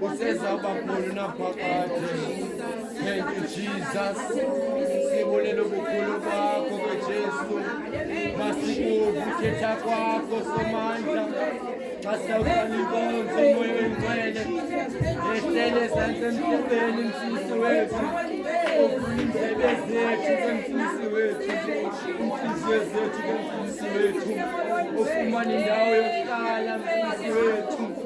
Kusesa bakulu na phakade. Thank you Jesus. Sibulele ubukhulu bakho ke Jesu. Masikuve uthetha kwakho somandla. Xa sawukani inkonzo moya oyingcwele. Ehlele ezantsi emhlabeni mfisi wethu. Uvula indlebe zethu ke mfisi wethu. Inhliziyo zethu ke mfisi wethu. Ufumane indawo yokuhlala mfisi wethu.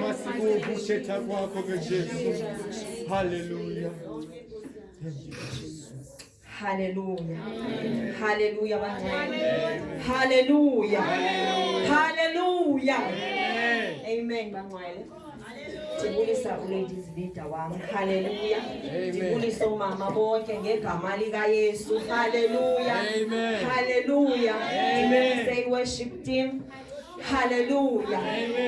Masikuvushetha kwakho ke Jesu. Hallelujah. Thank you. Hallelujah. Hallelujah bangcwele. Hallelujah. Hallelujah. Amen bangcwele. Ndibulisa uLadies Leader wami. Hallelujah. Ndibulisa umama bonke ngegama lika Yesu. Hallelujah. Hallelujah. Ndibulisa i-worship team. Haleluya.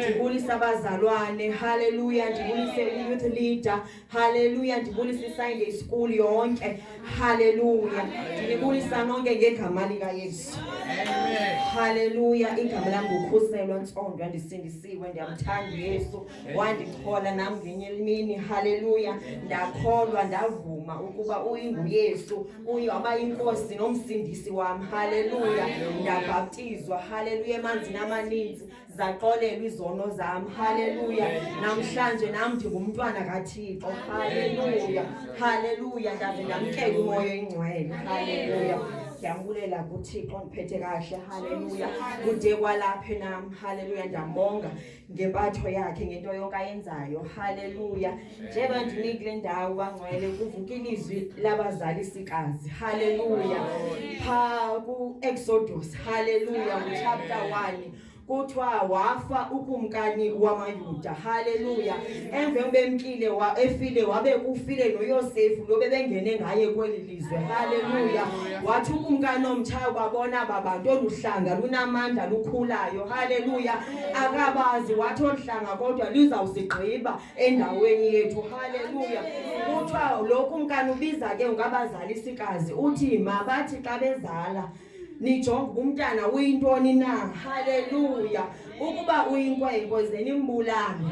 Ndibulise abazalwane. Haleluya. Ndibulise i-youth leader. Haleluya. Ndibulise i-Sunday school yonke. Haleluya. Ndinibulisa nonke ngegama lika Yesu. Amen. Haleluya. Igama lam ngukhuselwa ntsondo ndisindisiwe ndiyamthanda Yesu. Wandikhola nam ngenye imini. Haleluya. Ndakholwa ndavuma ukuba uyinguYesu. kuyo abayinkosi nomsindisi wam haleluya ndabhaptizwa haleluya emanzini amaninzi zaxolelwa izono zam haleluya namhlanje nam ndingumntwana kathixo haleluya haleluya ndaze ndamkela umoya ingcwele haleluya ndiyambulela kuthixo ndiphethe kahle haleluya kude kwalaphe nam haleluya ndiyambonga ngempatho yakhe ngento yonke ayenzayo haleluya njengoba ndimi kule ndawo bangcwele kuvuka ilizwi labazalisikazi haleluya pha ku-exodus haleluya nguchapter 1 kuthiwa wafa ukumkani wamayuda haleluya emve ubemkile wa, efile wabe kufile noyosefu lo bebengene ngaye kweli izwe haleluya wathi ukumkani omtshayo kwabona babantu olu hlanga lunamandla lukhulayo haleluya akabazi wathi olu hlanga kodwa luzawusigqiba endaweni yethu haleluya kuthiwa lo kumkani ubiza ke ngabazalisikazi uthi mabathi xa bezala nijonge uba umntana uyintoni na haleluya ukuba uyinkwenkwe ze nimbulane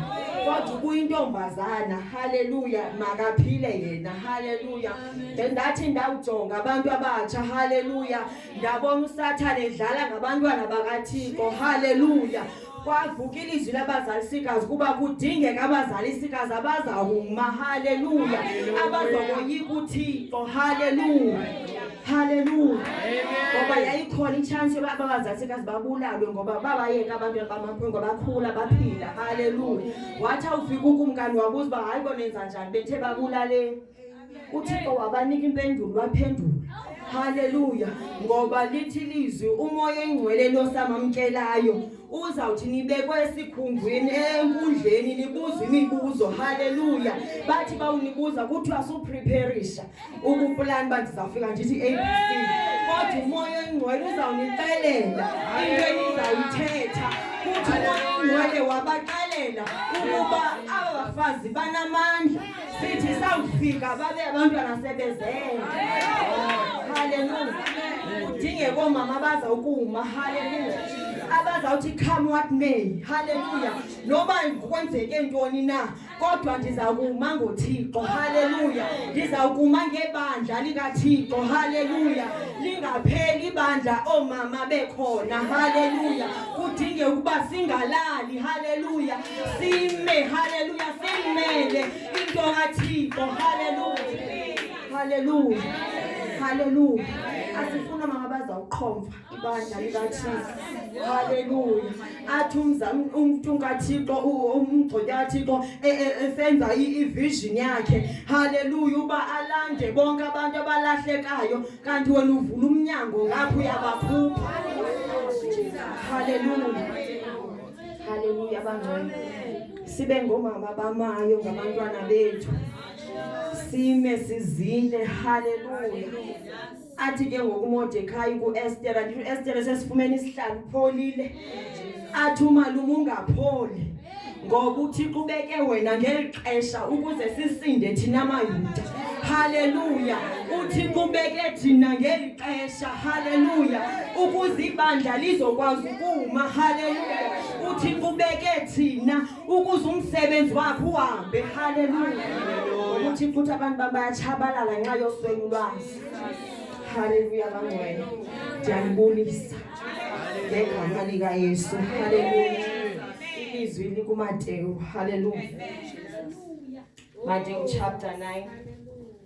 kodwa uba uyintombazana haleluya makaphile yena haleluya then ndathi ndawujonga abantu abatsha haleluya ndabona usathane edlala ngabantwana bakathixo haleluya kwavuka ilizwi labazalisikazi kuba kudingeka abazalisikazi abazawuma haleluya abazokoyika uthixo haleluya haleluya ngoba yayikhona itshansi yoba abazalisikazi babulalwe ngoba babayeka abantu bamakhulu ngoba bakhula baphila haleluya wathi awufika ukumkani wabuza uba hayi bonenza njani bethe babulaleni uthixo wabanika impendulo waphendula haleluya ngoba lithi lizwi umoya engcwele losamamkelayo uzawuthi nibekwe esikhundleni enkundleni nibuza imibuzo haleluya bathi bawunibuza kuthiwa supreparisha ukuplani uba ndizawufika ndithi abc kodwa umoya engcwele uzawunixelela into enizawuyithetha kuthi umoya engcwele wabaxelela ukuba abafazi banamandla sithi sawufika babe abantu anasebezele haleluya udinge koomama abaza ukuma haleluya abazawuthi come what may haleluya noba kwenzeke ntoni na kodwa ndiza kuma ngothixo haleluya ndiza kuma ngebandla likathixo haleluya lingapheli ibandla oomama bekhona haleluya kudinge ukuba singalali haleluya sime haleluya simele into kathixo haleluya haleluya haleluya asifuna mama bazawuqhomfa ibandla likathixo haleluya athi umntu kathixo umgcotya kathixo e, e, esenza ivision yakhe haleluya uba alande bonke abantu abalahlekayo kanti wena uvula umnyango ngapho uyabakhupha haleluya Haleluya bangcwele. Sibe ngomama bamayo ngabantwana bethu. Sime sizile. Haleluya. Athi ke ngokuModekhayi kuEsther, andithu Esther sesifumene isihlalo pholile. Athi umalume ungapholi. Ngoba uThixo ubeke wena ngelixesha ukuze sisinde thina maYuda. Haleluya. UThixo ubeke thina ngeli xesha haleluya ukuze ibandla lizokwazi ukuma haleluya uthi kubeke thina ukuze umsebenzi wakho uhambe haleluya ukuthi futhi abantu babayatshabalala nxa yoswelu lwazi haleluya bangcwele ndiyanibulisa ngegama likayesu haleluya ilizwi likumatewu haleluya matewu chapter 9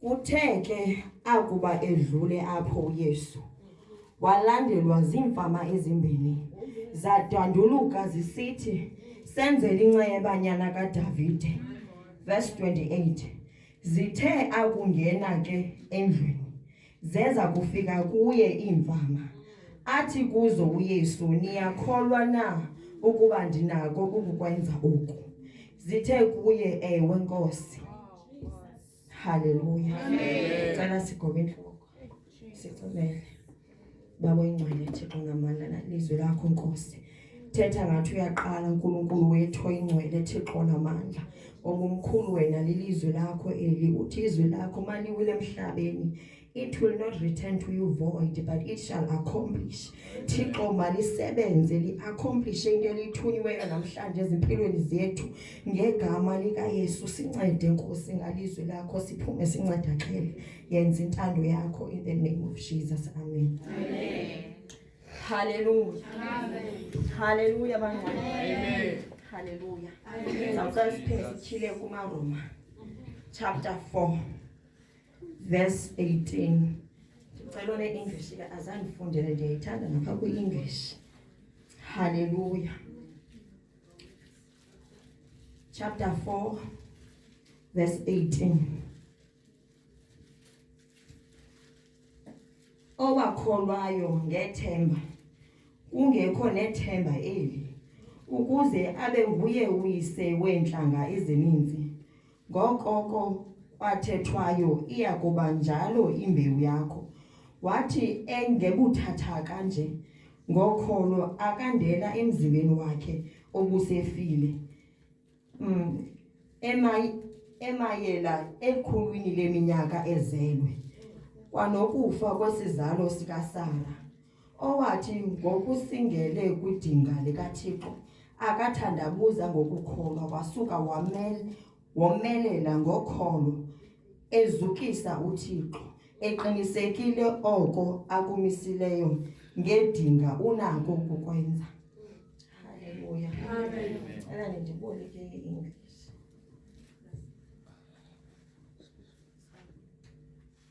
Kuthe ke akuba edlule apho uYesu walandelwa ziimfama ezimbini zadwanduluka zisithi senzele incebanyana kaDavide verse 28 zithe akungena ke endlwini zeza kufika kuye iimfama athi kuzo uYesu niyakholwa na ukuba ndinako ukukwenza oku zithe kuye ewe nkosi Haleluya. Amen. Cela sigobe intloko. Sicobele. Baba oyingcwele Thixo ngamandla nalizwi lakho Nkosi. Thetha ngathi uyaqala uNkulunkulu wethu oyingcwele Thixo namandla. Ongumkhulu wena lilizwi lakho eli uthi izwi lakho maliwile emhlabeni It will not return to you void, but it shall accomplish. Thixo malisebenze li-accomplishe into elithunyiweyo namhlanje ezimpilweni zethu ngegama likaYesu. Sincede Nkosi ngalizwi lakho siphume sincedakele. Yenza intando yakho in the name of Jesus. Amen. Amen. Hallelujah. Amen. Hallelujah bangcwele. Amen. Hallelujah. Amen. Sawuqala siphele sithile kumaRoma chapter 4. verse 18 ndicela une-english ke azandifundele ndiyayithanda napha kwi-english halleluya chapter 4 verse 18 owakholwayo ngethemba kungekho nethemba eli ukuze abe nguye uyise weentlanga ezininzi Ngoko ko kwathethwayo iya kuba njalo imbewu yakho. Wathi engebuthathaka nje ngokholo akandela emzimbeni wakhe obusefile. Mm, emay emayela ekhulwini leminyaka ezelwe kwanokufa kwesizalo sikaSara. owathi ngokusingele kwidinga likaThixo akathandabuza ngokukholwa wasuka wamel womelela ngokholo ezukisa uThixo eqinisekile oko akumisileyo ngedinga unako ukukwenza haleluya cela nindiboleke i-english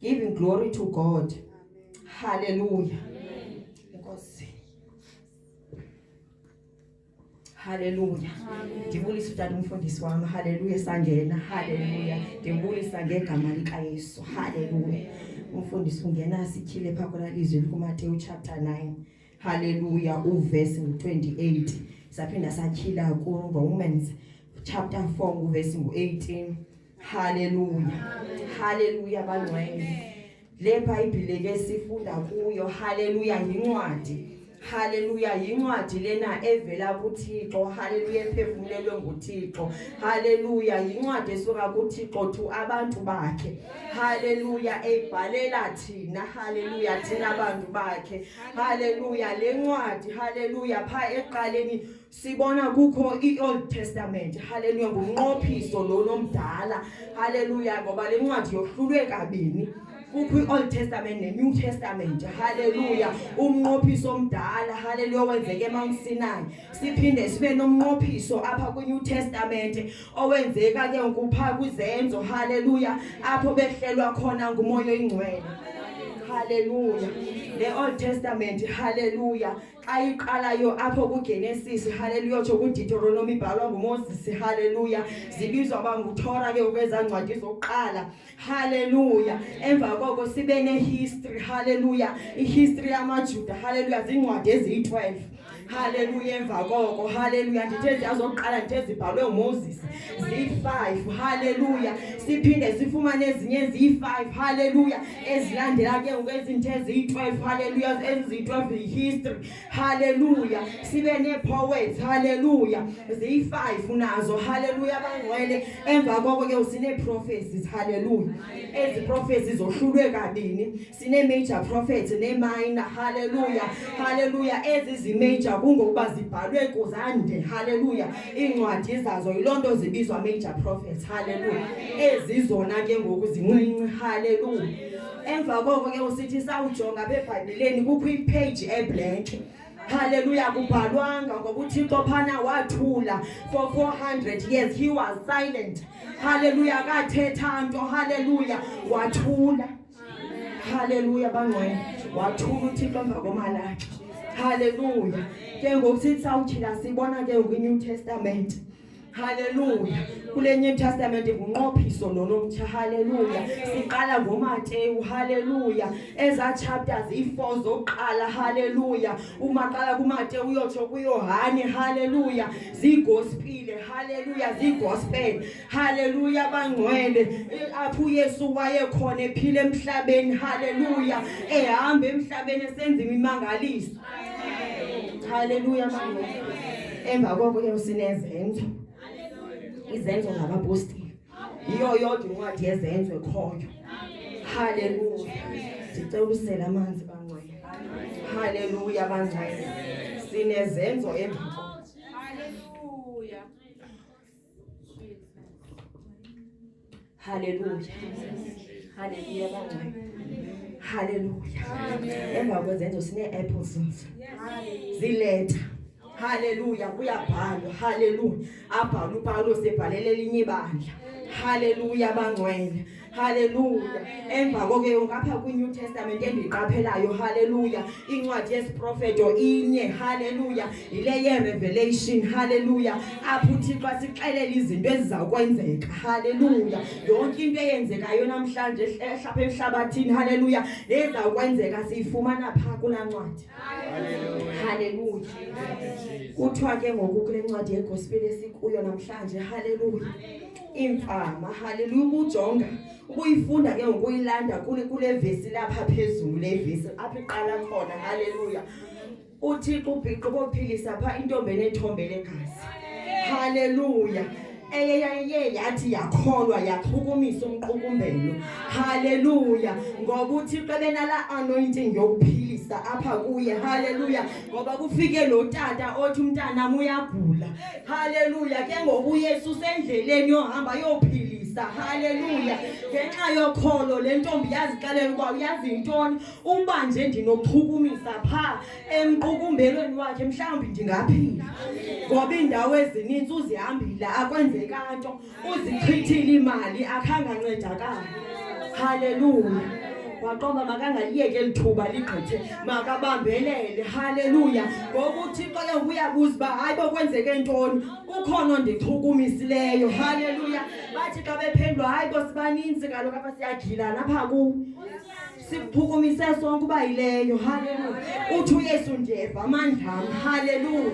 Giving glory to God. Hallelujah. Inkosi. Hallelujah. Ndibulisa utata umfundisi wam. Hallelujah sangena. Hallelujah. Ndibulisa ngegama lika Yesu. Hallelujah. Umfundisi ungena sityhile phaa kona lizwi likuMateyu chapter 9. Hallelujah. Uverse 28. Saphinda satyhila kuRomans chapter 4 uverse 18. Haleluya. Haleluya bangcwele. Le Bhayibhile ke sifunda kuyo. Haleluya yincwadi. Haleluya yincwadi lena evela kuThixo haleluya ephefumulelwe nguThixo haleluya yincwadi esuka kuThixo thu abantu bakhe haleluya ebhalela thina haleluya thina abantu bakhe haleluya lencwadi haleluya pha eqaleni Sibona kukho iOld Testament. Haleluya ngumnqophiso lo nomdala. Haleluya ngoba le ncwadi yohlulwe kabini. kukho i-old testament ne-new testament halleluya umnqophiso omdala halleluya owenzeke emawusinayi siphinde sibe nomnqophiso apha kwi-new testament owenzeka ke ngokupha kwizenzo halleluya apho behlelwa khona ngumoya oyingcwele halleluya le-old testament halleluya xa iqalayo apho kugenesis haleluya tsho kuditoronomi ibhalwa ngumoses haleluya zibizwa uba nguthora ke ukwezaa ncwadi zokuqala haleluya emva koko sibe nehistory haleluya ihistory yamajuda haleluya ziincwadi eziyi-twelve haleluya emva koko haleluya ndithe ziyazokuqala ndithe zibhalwe ngumoses ziyi-five haleluya siphinde sifumane ezinye ziyi-five haleluya ezilandela ke ngoku ezinto eziyi-12 halleluya eziyi-12 yi-history halleluya sibe nee-poets halleluya ziyi-five unazo halleluya bangcwele emva koko ke sinee-prophecies halleluya ezi prophecies zohlulwe kabini sinee-major prophets nee-minor halleluya halleluya ezi zi-major kungokuba zibhalwe kuzande halleluya iincwadi zazo yiloo nto zibizwa major prophets halleluya ezizona ke ngoku zincinci halleluya emva koko ke usithi sawujonga apha ebhayibhileni kukho ipheji eblank Hallelujah kubhalwanga ngoba uThixo phana wathula for 400 years he was silent hallelujah akathetha nto hallelujah wathula haleluya bangcwele wathula uthixo emva komalakhe haleluya ke ngoku sithi sawuthina sibona ke ngokwi-new testament Haleluya. Kule New Testament ngunqophiso lonomtsha. Haleluya. Siqala ngoMateyu. Haleluya. Eza chapters i4 zoqala. Haleluya. Uma qala kuMateyu uyotsho kuYohane. Haleluya. Zigospile. Haleluya. Zigospel. Haleluya bangcwele eh, apho uYesu wayekhona ephila emhlabeni haleluya ehamba emhlabeni esenza imimangaliso haleluya bangcwele emva koko ke usinezenzo izenzo ngabapostile yiyo yodwa incwadi yezenzo ekhoyo haleluya ndicela usela amanzi bangcwele haleluya bangcwele sinezenzo emva Haleluya, haleluya bangcwele, haleluya. Emva kwezenzo sine-apple zinzi ziletha haleluya kuyabhalwa haleluya abhala upawulos ebhalela elinye ibandla haleluya bangcwele haleluya emva koke ngapha kwi-new testament endiyiqaphelayo haleluya incwadi yesiprofeto inye haleluya yile yerevelation haleluya apho uthixo asixelela izinto ezizakwenzeka haleluya yonke into eyenzekayo namhlanje ehlapha emhlabathini haleluya nezakwenzeka siyifumana pha kulaa ncwadi haleluya kuthiwa ke ngoku kule ncwadi yegospel esikuyo namhlanje haleluya iimfama haleluya ukujonga ukuyifunda ke ngokuyilanda kule vesi lapha phezulu le vesi apha iqala khona haleluya uthixo ubhiqo bophilisa pha intombi enethombe legazi haleluya eyeyaye yathi yakholwa yachukumisa umqukumbelo haleluya ngoba uthixo ebenala anointing yokuphilisa apha kuye haleluya ngoba kufike lo tata othi umntanam uyagula Haleluya. Ke ngoku uYesu usendleleni yohamba yophilisa. Haleluya. Ngenxa yokholo le ntombi yazixelela ukuba uyazi yintoni uba nje ndinochukumisa pha emqukumbelweni wakhe mhlawumbi ndingaphila. Ngoba iindawo ezininzi uzihambile akwenzeka nto. uzichithile imali akhange ancedakala haleluya waqoba makangaliyeki eli thuba ligqithe makabambelele haleluya ngoba uthixo ke uyabuza uba hayi bo kwenzeke ntoni ukhona ondichukumisileyo haleluya bathi xa bephendula hayi bo sibaninzi kaloku apha siyagilana apha kuwo siphukumisa sonke uba yileyo haleluya uthi uyesu ndiyeva amandlam haleluya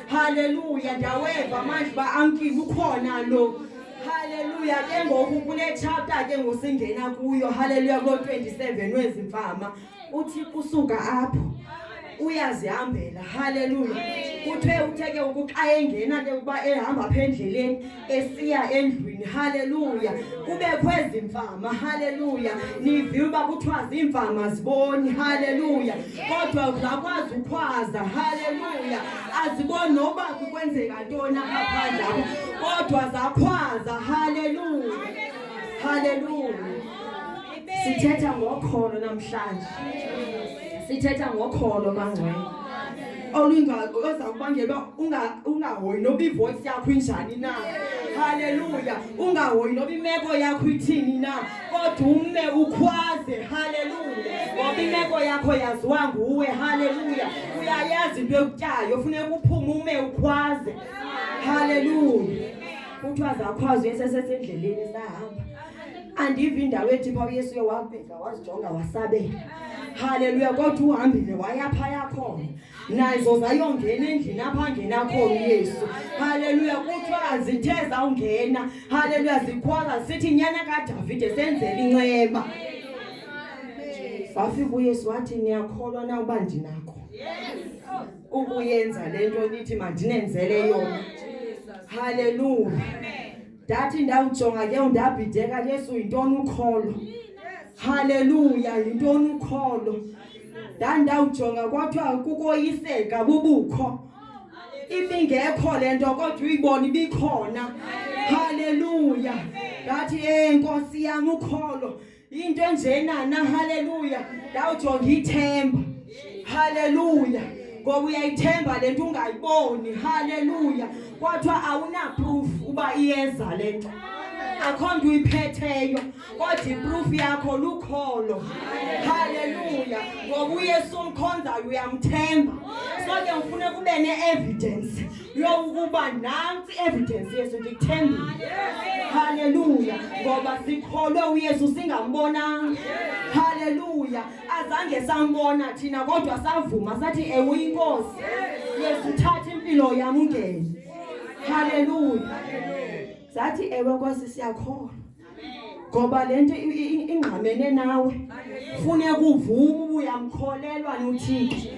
haleluya ndiyaweva amandla uba amkile ukhona lo haleluya ke ngoku kunetshapta ke ngosingena kuyo haleluya kulo 27 wezimfama uthi kusuka apho uyazihambela haleluya kuthe utheke ukuxa engena ke ukuba ehamba apha endleleni esiya endlwini haleluya kubekho ezi mfama haleluya niviwe uba kuthiwa ziimfama ziboni haleluya kodwa zakwazi ukhwaza haleluya aziboni noba kukwenzeka ntoni apha kodwa zakhwaza haleluya haleluya sithetha ngokholo namhlanje sithetha ngokholo bangcwele olungaza kubangelwa ungahoyi noba ivoyisi yakho injani na haleluya ungahoyi noba imeko yakho ithini na kodwa ume ukhwaze haleluya ngoba imeko yakho yaziwa nguwe haleluya uyayazi into ekutyayo funeka uphume ume ukhwaze haleluya kuthiwa zakhwazo esesesendleleni sahamba andivi indawo ethi pha uyesu uye wabheka wazijonga wasabela Haleluya kodwa uhambile waya phaya khona nazo zayongena endlini apha ngena khona uYesu haleluya kuthiwa zithe zawungena haleluya zikhwala sithi nyana kaDavide senzele inceba wafika uYesu wathi niyakholwa na uba ndinakho ukuyenza le nto nithi mandinenzele yona haleluya ndathi ndawujonga ke undabhideka yesu yintoni ukholo haleluya yintoni ukholo ndandawujonga kwathiwa kukoyiseka bubukho ibingekho le nto kodwa uyibona ibikhona haleluya ngathi e nkosi yam ukholo into enjena na haleluya ndawujonga ithemba haleluya ngoba uyayithemba le nto ungayiboni haleluya kwathiwa awunaproof uba iyeza le nto akho nto uyiphetheyo kodwa iproof yakho lukholo haleluya ngoba uyesu omkhonzayo uyamthemba so ke ngifune kube ne-evidence yokuba nantsi evidence yesu ndikuthembile haleluya ngoba sikholwe uyesu singambonanga haleluya azange sambona thina kodwa savuma sathi ewe uyinkosi yesu thatha impilo yam ungene haleluya sathi ewe nkosi siyakholwa ngoba lento ingqamene nawe funeka uvume ubuyamkholelwa nothixo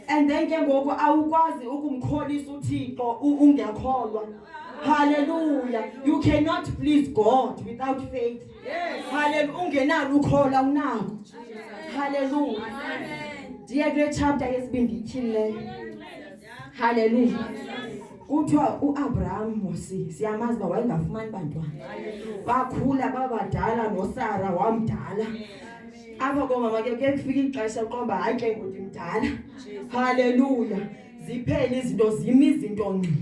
and then ke ngoku awukwazi ukumkholisa uthixo ungekholwa haleluya you cannot please god without faith haleluya ungenalo ukhola unako haleluya ndiye kule chapter yesibini ndityhini leyo haleluya kuthiwa uAbraham Mosi siyamazi uba wayengafumani bantwana bakhula babadala nosara wamdala apha komama ke kuye kufika ixesha uqomba hayi ke ngoku ndimdala haleluya ziphele izinto zimi izinto ngqi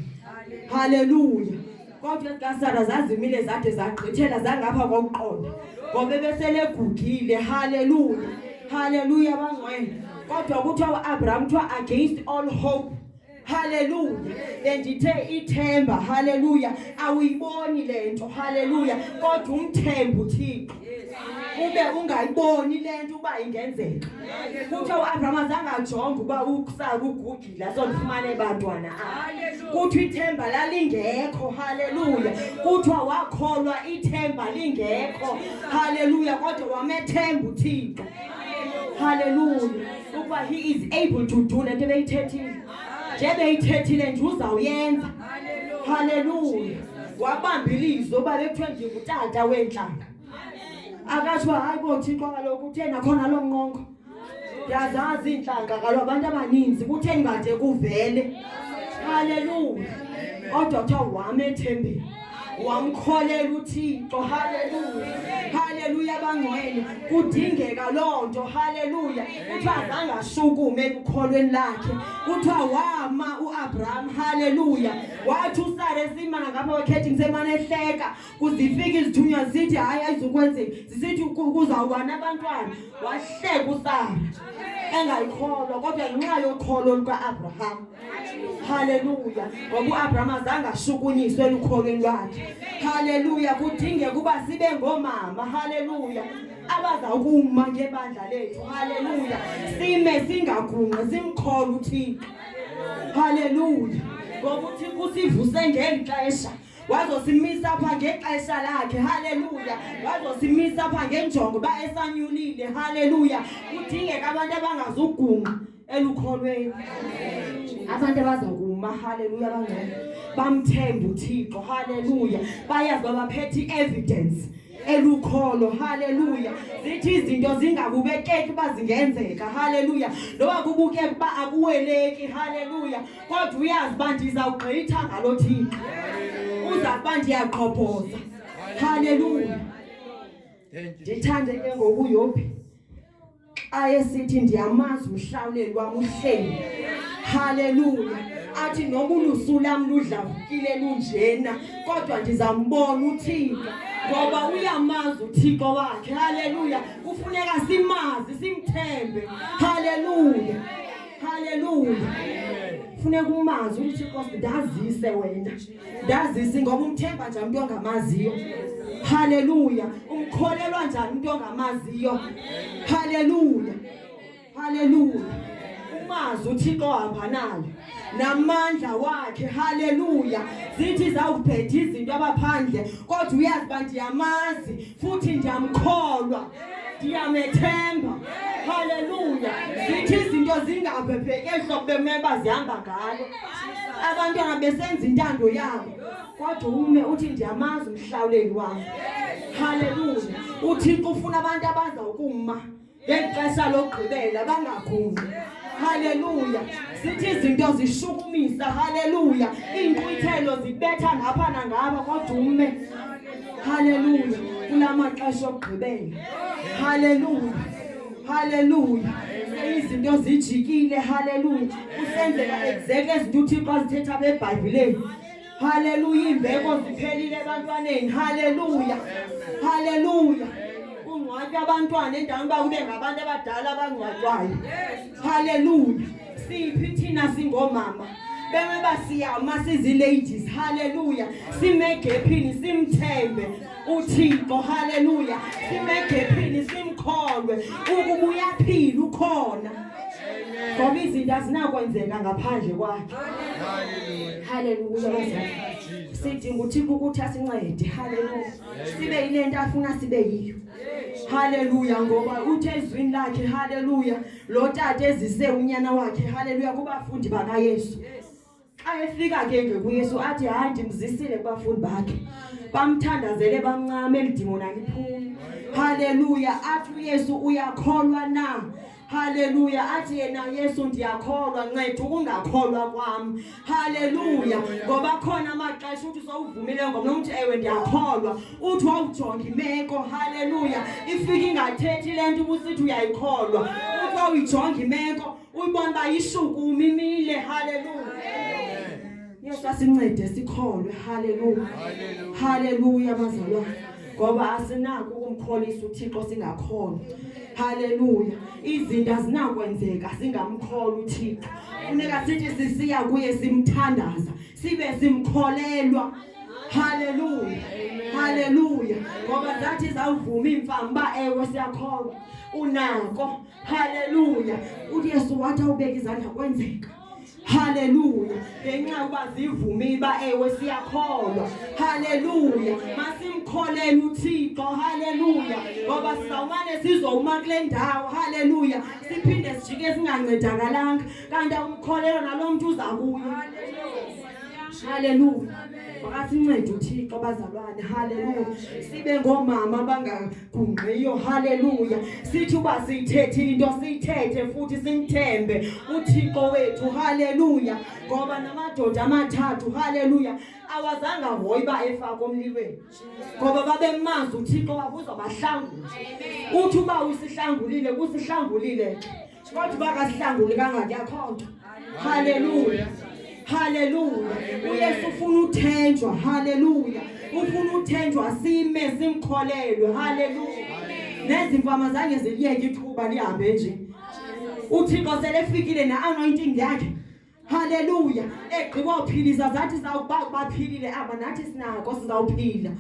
haleluya kodwa ezikasara zazimile zade zagqithela zangapha kokuqonda ngoba ebesele egugile haleluya haleluya bangcwele kodwa kuthiwa uabraham kuthiwa against all hope Haleluya. Bendithe ithemba. Haleluya. Awuyiboni lento. Haleluya. Kodwa umthembu Thixo. Ube ungayiboni lento uba ingenzeka. Kuthe uAbraham azange ajonge uba ukusaka ugugile asondifumane bantwana. Kuthi ithemba lalingekho. Haleluya. Kuthiwa wakholwa ithemba lingekho. Haleluya. Kodwa wamethemba uThixo. haleluya ukuba he is able to do le nto ebeyithethile njebeyithethile nje uzawuyenza haleluya wabamba ilizwi uba bekuthiwe ndingutata weentlanga akatsho hayi bo thixo kaloku utheni akhona loo nqongo ndiyazazi iintlanga kaloku abantu abaninzi kutheni kade kuvele haleluya odwa kuthiwa wam ethembeni wamkholela uThixo haleluya haleluya bangcwele kudingeka loo nto haleluya kuthiwa azange ashukume ekukholweni lakhe kuthiwa wama uAbraham haleluya wathi uSara esimana ngapha kwekhethi ngisemane ehleka kuzifika izithunywa zithi hayi ayizukwenzeka zisithi kuzawukwana abantwana wahleka uSara engayikholwa kodwa ngenxa yokholo lukaAbraham Haleluya. Ngoba uAbraham azange ashukunyiswe elukholweni lwakhe. Haleluya. Kudingeka uba sibe ngomama. Haleluya. abaza kuma ngebandla lethu haleluya sime singagungqi simkhole uthixo haleluya ngoba uthixo usivuse ngeli xesha wazosimisa pha ngexesha lakhe haleluya wazosimisa pha ngenjongo uba esanyulile haleluya kudingeka abantu abangazugungqa elukholweni abantu abaza kuma haleluya bangcwele bamthemba uthixo haleluya bayazi babaphethe i-evidence elukholo haleluya zithi izinto zingakubekeki uba zingenzeka haleluya noba kubukeka uba akuweleki haleluya kodwa uyazi uba ndizawugqitha ngalo thixo uza kuba ndiyaqhobhoza haleluya ndithande ke ngokuyophi ayesithi ndiyamazi umhlawuleli wam uhleli haleluya athi noma ulusu lam ludlavukile lunjena kodwa ndizambona uthixo ngoba uyamazi uthixo wakhe haleluya kufuneka simazi simthembe haleluya haleluya funeka umazi uthixo ndazise wena ndazisi ngoba umthemba njani umntu ongamaziyo haleluya umkholelwa njani umntu ongamaziyo haleluya haleluya umazi uthixo ohamba nayo namandla wakhe haleluya zithi zawubheda izinto abaphandle kodwa uyazi uba ndiyamazi futhi ndiyamkholwa ndiyamethemba haleluya zithi izinto zingabhebheki ehlobo bemeba zihamba ngalo abantwana besenza intando yabo kodwa ume uthi ndiyamazi umhlawuleli wam haleluya uthixo ufuna abantu abaza ukuma ngexesha lokugqibela bangakhuli haleluya zithi izinto zishukumisa haleluya iinkqwithelo zibetha ngapha nangapha kodwa ume haleluya kula maxesha okugqibela haleluya haleluya izinto zijikile haleluya usenzeka exactly ezinto uthixo azithetha bebhayibhileni Haleluya imbeko ziphelile ebantwaneni. Haleluya. Haleluya. Kungcwatywa abantwana endaweni uba kube ngabantu abadala abangcwatywayo. Haleluya. Siphi thina singomama. Bengeba siyama siziladies. Haleluya. Simegephini simthembe. uthixo haleluya simegephini simkholwe ukuba uyaphila ukhona ngoba izinto azinakwenzeka ngaphandle kwakhe haleluya sidinga uthixo ukuthi asincede haleluya sibe yile nto afuna sibe yiyo haleluya ngoba uthe ezwini lakhe haleluya lo tata ezise unyana wakhe haleluya kubafundi bakayesu ayefika ke ngoku Yesu athi hayi ndimzisile kubafundi bakhe bamthandazele bamncame elidimona liphume haleluya athi uYesu uyakholwa na Haleluya athi yena Yesu ndiyakholwa nceda ukungakholwa kwami Haleluya ngoba khona amaxesha uthi sowuvumile ngomntu uthi ewe ndiyakholwa uthi wawujonga imeko Haleluya ifika ingathethi lento ubusithi uyayikholwa uthi wawuyijonga imeko Uyibona uba ishuku umimile. Hallelujah. Yesu asincede sikholwe. Hallelujah. Hallelujah bazalwane. Ngoba asinako ukumkholisa uThixo singakhona. Hallelujah. Izinto azinakwenzeka singamkholi uThixo. Funeka sithi sisiya kuye simthandaza, sibe simkholelwa. Hallelujah. Hallelujah. Ngoba zathi zawuvuma imfamba ewe siyakholwa. Unako Haleluya. UJesu wathi awubeka izandla kwenzeka. Haleluya. Ngenxa yokuba zivumile ba ewe siyakholwa. Haleluya. Masimkholele uThixo. Haleluya. Ngoba sizawumane sizowuma kule ndawo. Haleluya. Siphinde sijike singancedakalanga. Kanti awumkholelwa nalo mntu uza kuyo. Haleluya. Makasincede uThixo bazalwane. Haleluya. Sibe ngoomama abanga gungqiyo haleluya sithi uba siyithethe into siyithethe futhi simthembe uthixo wethu haleluya ngoba namadoda amathathu haleluya awazange ahoyi uba efake omlilweni ngoba babemazi uthixo wakuzobahlangula uthi uba usihlangulile kusihlangulile Kodwa uba kasihlanguli kangaki akho nto. Haleluya. Haleluya. UYesu ufuna uthenjwa. Haleluya. Ufuna uthenjwa sime simkholelwe. Haleluya. Nezimfama zange ziliyeke ithuba lihambe nje. uthixo selefikile ne-anointing yakhe Haleluya. Egqiba uphilisa zathi zawuba baphilile aba nathi sinako sizawuphila.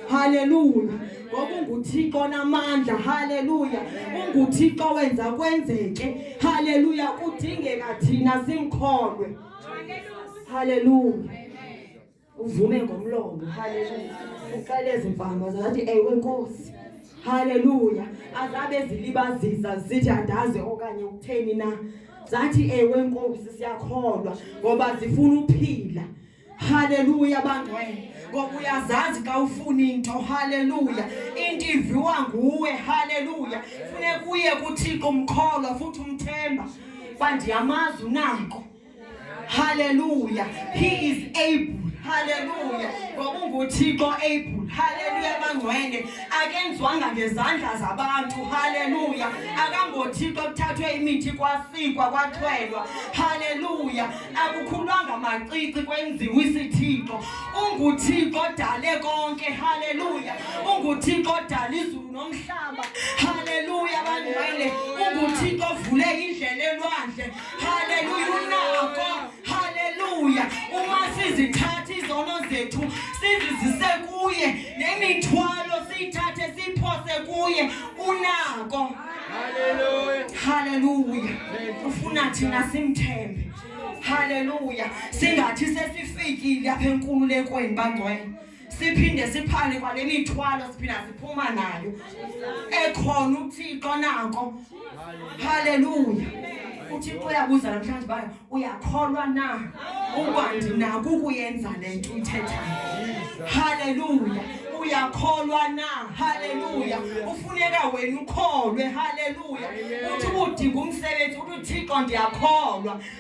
Haleluya. Ngokunguthixo namandla. Haleluya. Unguthixo wenza kwenzeke. Haleluya. Kudingeka thina simkholwe. Haleluya. uvume ngomlomo haleluya uqale ezimpama zathi ewe nkosi haleluya azabe zilibazisa zithi andazi okanye ukutheni na zathi ewe nkosi siyakholwa ngoba zifuna uphila haleluya bangcwele ngoba uyazazi xa ufuna into haleluya into iviwa nguwe haleluya funeka uye kuthixo umkholwa futhi umthemba uba ndiyamazi unako Hallelujah. He is able. Hallelujah. Ngoba unguThixo able. Hallelujah bangcwele. Akenzwanga ngezandla zabantu. Hallelujah. Akangothixo kuthathwe imithi kwasikwa kwathwelwa. Hallelujah. Akukhulwanga macici kwenziwa isithixo. UnguThixo odale konke. Hallelujah. UnguThixo odale izulu nomhlaba. Hallelujah bangcwele. UnguThixo ovule indlela elwandle. Haleluya, unako. Haleluya, uma sizithatha izono zethu sizizise kuye nemithwalo siyithathe siphose kuye unako. Haleluya, haleluya, ufuna thina simthembe. Haleluya, singathi sesifikile apha enkululekweni bangcwele. siphinde siphane kwale mithwalo siphinde siphuma nayo ekhona uthixo nako haleluya uthixo uyabuza namhlanje bayo uyakholwa na ukwandi naku kuyenza le nto uyithethayo haleluya uyakholwa na haleluya ufuneka wena ukholwe haleluya uthi ubudinga umsebenzi uthi uthixo ndiyakholwa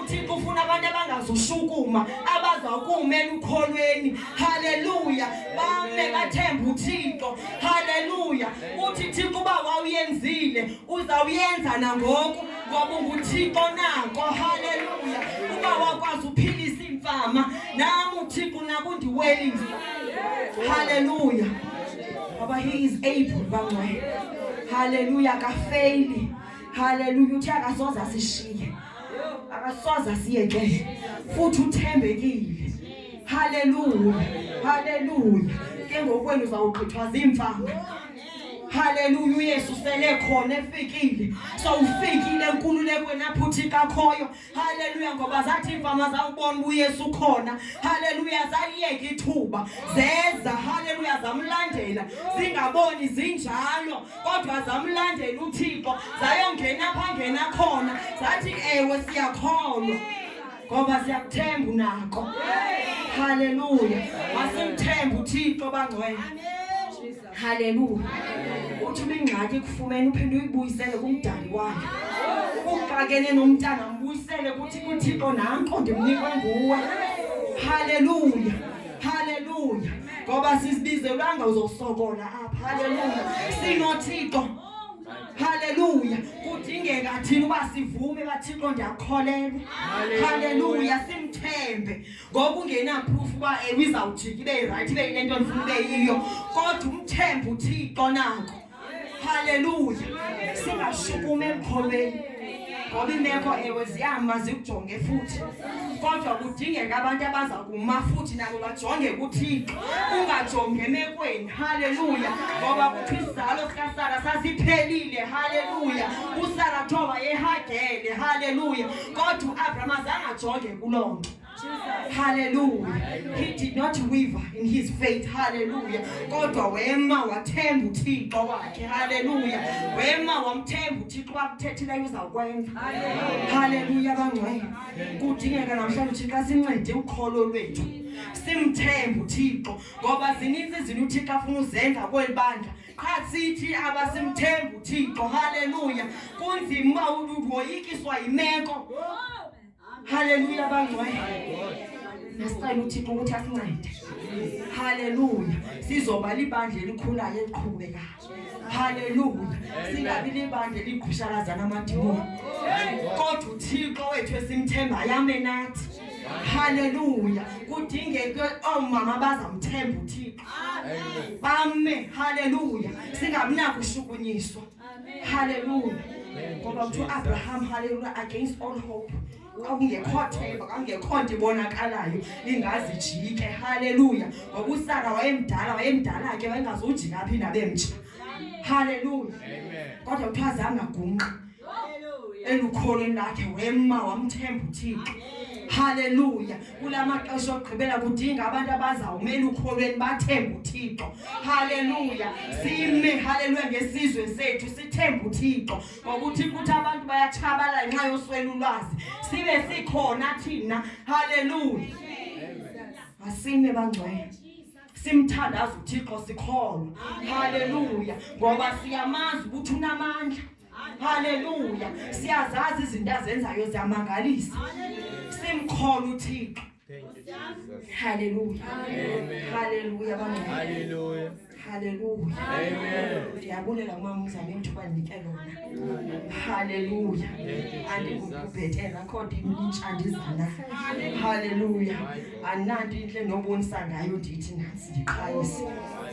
uthixo ufuna abantu abangazushukuma abazawukumela ukholweni haleluya bame bathembe uthixo haleluya uthi thixo uba wawuyenzile uzawuyenza nangoku ngoba unguthixo nako haleluya uba wakwazi uphilisa iimfama nam uthixo nakundiwelisa haleluya ngoba he is able bangcwele haleluya kafeyili haleluya uthi akasoze asishiye akasoze asiyeke futhi uthembekile haleluya haleluya ke ngokwenu uzawugqithwa ziimfama haleluya uyesu sele khona efikile sowufikile enkululekweni apho uthi kakhoyo haleluya ngoba zathi iimfama zawubona uba uyesu ukhona haleluya zaliyeka ithuba zeza haleluya zamlandela zingaboni zinjalo kodwa zamlandela uthixo zayongena pha ngena khona zathi ewe siyakholwa ngoba siyakuthemba unako haleluya masimthembe uthixo bangcwele haleluya uthi ubingxaki kufumene uphinde uyibuyisele kumdali wakhe ukuxakene nomntana mbuyisele kuthi kuthixo nanko ndimnikwe nguwe haleluya Haleluya. Ngoba sizibizelwanga uzosokola apha. Haleluya. Sinothixo. Haleluya. Kudingeka thina uba sivume bathixo ndiyakholelwa. Haleluya. Simthembe. Ngoba ungena proof uba ewe izawujika ibe right ibe yinto endifuna ibe yiyo. Kodwa umthembe uthixo nako. haleluya singashukumi emkholweni ngoba imeko ewe ziyama zikujonge futhi kodwa kudingeka abantu abaza kuma futhi nabo bajonge kuthixo ungajonge emekweni haleluya ngoba kuthi isizalo sikasara sasiphelile haleluya usara thoba yehagele haleluya kodwa uabraham azangajonge kuloo nto Hallelujah. He did not waver in his faith. Hallelujah. Kodwa wema wathemba uThixo wakhe. Hallelujah. Wema wamthemba uThixo wakuthethileyo uzakwenza. Hallelujah bangcwele. Kudingeka namhlanje uThixo asincede ukholo lwethu. Simthembe uThixo ngoba zininzi izinto uThixo afuna uzenza kweli bandla. qha sithi abasimthembi uthixo haleluya kunzima uba uwoyikiswa yimeko Haleluya bangcwele. Nasicela uThixo ukuthi asincede. Haleluya. Sizoba libandla elikhulayo eliqhubekayo. Haleluya. Singabi libandla eligqushalazana amadimoni. Kodwa uThixo wethu esimthemba yame nathi. Haleluya. Kudingeke omama bazamthemba uThixo. Amen. Bame. Haleluya. Singabi nakushukunyiswa. Amen. Hallelujah. Ngoba kuthiwa Abraham hallelujah against all hope. Kwakungekho themba, kwakungekho nto ibonakalayo ingazijike. Hallelujah. Ngoba uSara wayemdala, wayemdala ke wayengazujika phi nabemtsha. Hallelujah. Amen. Kodwa kuthiwa zangagungqa. Hallelujah. Elukholweni lakhe wema wamthemba uThixo. Haleluya. Kula maxesha okugqibela kudinga abantu abazawumela ukholweni bathembe uThixo. Haleluya. Sime haleluya ngesizwe sethu sithembe uThixo. Ngokuthi kuthi abantu bayatshabalala ngenxa yoswela ulwazi. Sibe sikhona thina. Haleluya. Asime bangcwele. Simthandaza uThixo sikholwa. Haleluya. Ngoba siyamazi ukuthi unamandla. Haleluya. Siyazazi izinto azenzayo ziyamangalisa. Simkhona uThixo. Haleluya. Haleluya bami. Haleluya. Haleluya. Amen. Ndiyabulela uma umzali ithuba ndinike lona. Haleluya. Andingubhetela kodwa intsha ndizana. Haleluya. Anandi intle nobonisa ngayo ndithi nansi ndiqhayise.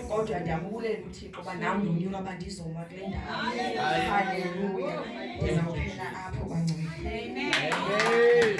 Kodwa ndiyabulela ukuthi Ngoba nam ndonyula uba ndizoma kule ndawo. Haleluya. Ndizawuphela apho bangcwele. Amen.